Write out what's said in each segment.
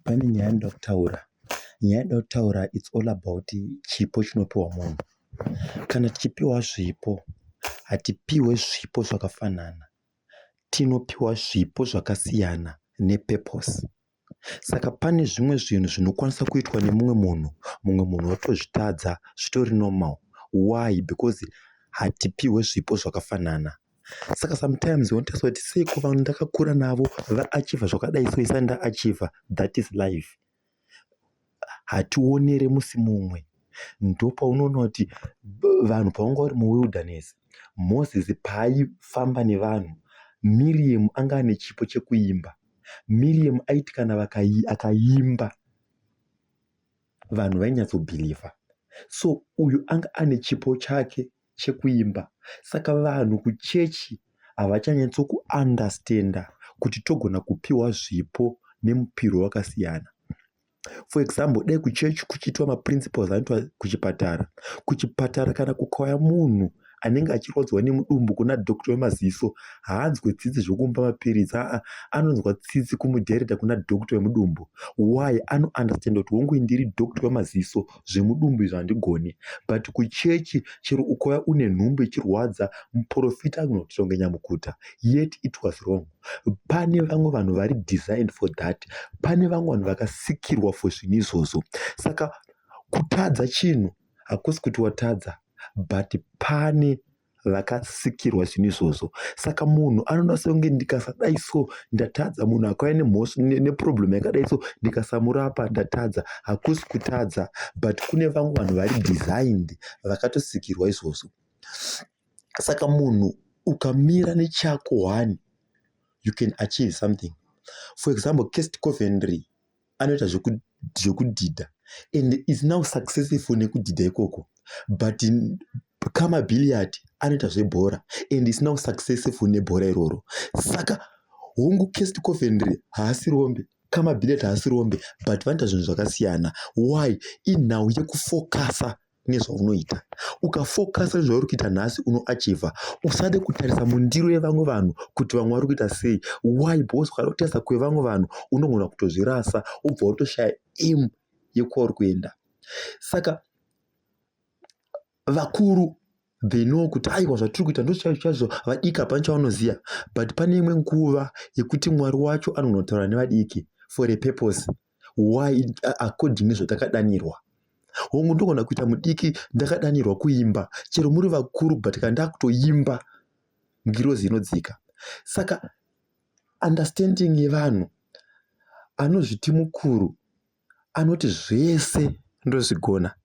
Pane nyaya yandinoda kutaura. Nyaya yandinoda kutaura it's all about chipo chinopiwa munhu. Kana tichipiwa zvipo, hatipiwe zvipo zvakafanana. Tinopiwa zvipo zvakasiyana ne purpose. Saka pane zvimwe zvinhu zvinokwanisa kuitwa nemumwe munhu, mumwe munhu otozvitadza, zvitori normal. Why? Because hatipiwe zvipo zvakafanana. saka sometimes unotariswa kuti seiko vanhu ndakakura navo vaachiva zvakadai so isani ndaachiva that is life hationere musi mumwe ndopaunoona kuti vanhu pavanga vari muwilderness moses paaifamba nevanhu miriam anga ane chipo chekuimba miriam aiti kana akaimba vanhu vainyatsobhilivha so uyu anga ane chipo chake chekuimba saka vanhu kuchechi havachanyatso kuunderstander kuti togona kupiwa zvipo nemupiro wakasiyana for example dai kuchechi kuchiitwa maprinciples anoitwa kuchipatara kuchipatara kana kukauya munhu anenge achirwadziwa nemudumbu kuna doctor wemaziso haanzwe tsitsi zvokumba mapiritsi aa anonzwa tsitsi kumudhereta kuna doctor wemudumbu why anounderstanda kuti hongu indiri doctor wemaziso zvemudumbu izvo handigoni but kuchechi chero ukauya une nhumbu ichirwadza muporofita anogona kuti tonge nyamukuta yet it was wrong pane vamwe vanhu vari designed for that pane vamwe vanhu vakasikirwa for zvinhu izvozvo saka kutadza chinhu hakusi kuti watadza but pane vakasikirwa zvinhu izvozvo saka munhu anoda songe ndikasadai so ndatadza munhu akauya nemhosva neproblem yakadai so ndikasamurapa ndatadza hakusi kutadza but kune vamwe vanhu vari designed vakatosikirwa izvozvo saka munhu ukamira nechako one you can achieve something for example cast covenry anoita zvekudhidha and is now successful nekudhidha ikoko but kama billiard anoita zvebhora and is now successful nebhora iroro saka hongu cast coventry haasi rombe kama billiard haasi rombe but vanoita zvinhu zvakasiyana why inhau yekufocusa nezvaunoita ukafokasa nezvauri kuita nhasi unoachivha usade kutarisa mundiro yevamwe vanhu kuti vamwe vari kuita sei why because ukada kutarisa kwevamwe vanhu unogona kutozvirasa ubva utoshaya im yekwauri kuenda saka vakuru they know kuti aiwa zvatiri kuita ndochaizvo chaizvo vadiki hapana chavanoziva but pane imwe nguva yekuti mwari wacho anogona kutaura nevadiki for a purpose why according nezvatakadanirwa hongu ndogona kuita mudiki ndakadanirwa kuimba chero muri vakuru but kana ndakutoimba ngirozi inodzika saka understanding yevanhu anozviti mukuru anoti zvese ndozvigona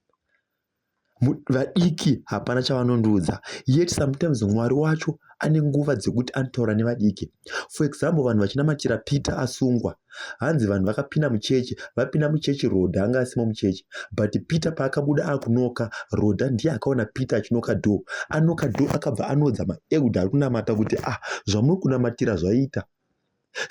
vadiki hapana chavanondiudza yet sometimes mwari wacho ane nguva dzekuti anotaura nevadiki for example vanhu vachinamatira peter asungwa hanzi vanhu vakapinda muchechi vapinda muchechi roda anga asimo muchechi but peter paakabuda akunoka roda ndiye akaona peter achinoka do anoka do akabva anodza maeuda ari kunamata kuti ah zvamuri kunamatira zvaita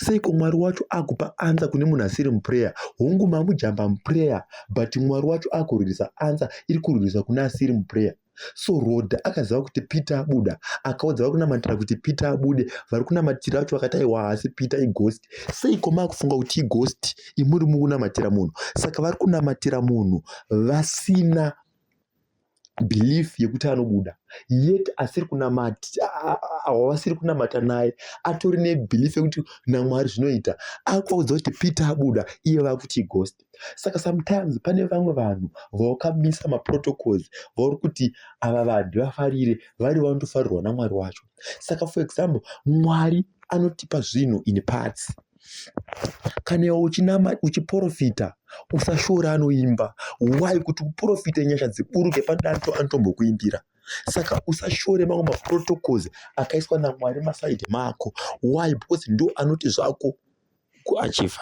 seiko mwari wacho akupa ansa kune munhu asiri muprayer hongu mamujamba muprayer but mwari wacho akurwirisa ansa iri kurwirisa kune asiri muprayer so roda akaziva kuti peter abuda akaudza vari kunamatira kuti peter abude vari kunamatira vacho vakati aiwa haasi peter ighost seiko maakufunga kuti ighost imuri mukunamatira munhu saka vari kunamatira munhu vasina belief yekuti anobuda yet asiri kunamata awasiri kunamata naye atori nebelief yekuti namwari zvinoita akuudza kuti peter abuda iye vakuti ghost saka sometimes pane vamwe vanhu vawakamisa maprotocols vauri kuti ava vanhu vafarire vari vanotofarirwa namwari wacho saka for example mwari anotipa zvinhu in parts kana iwe uchinama uchiprofita usashora anoimba why kuti uprofite nyasha dziburuke padanto anotombokuimbira saka usashore mamwe maprotocols akaiswa namwari masaidi mako why because ndo anoti zvako kuachiva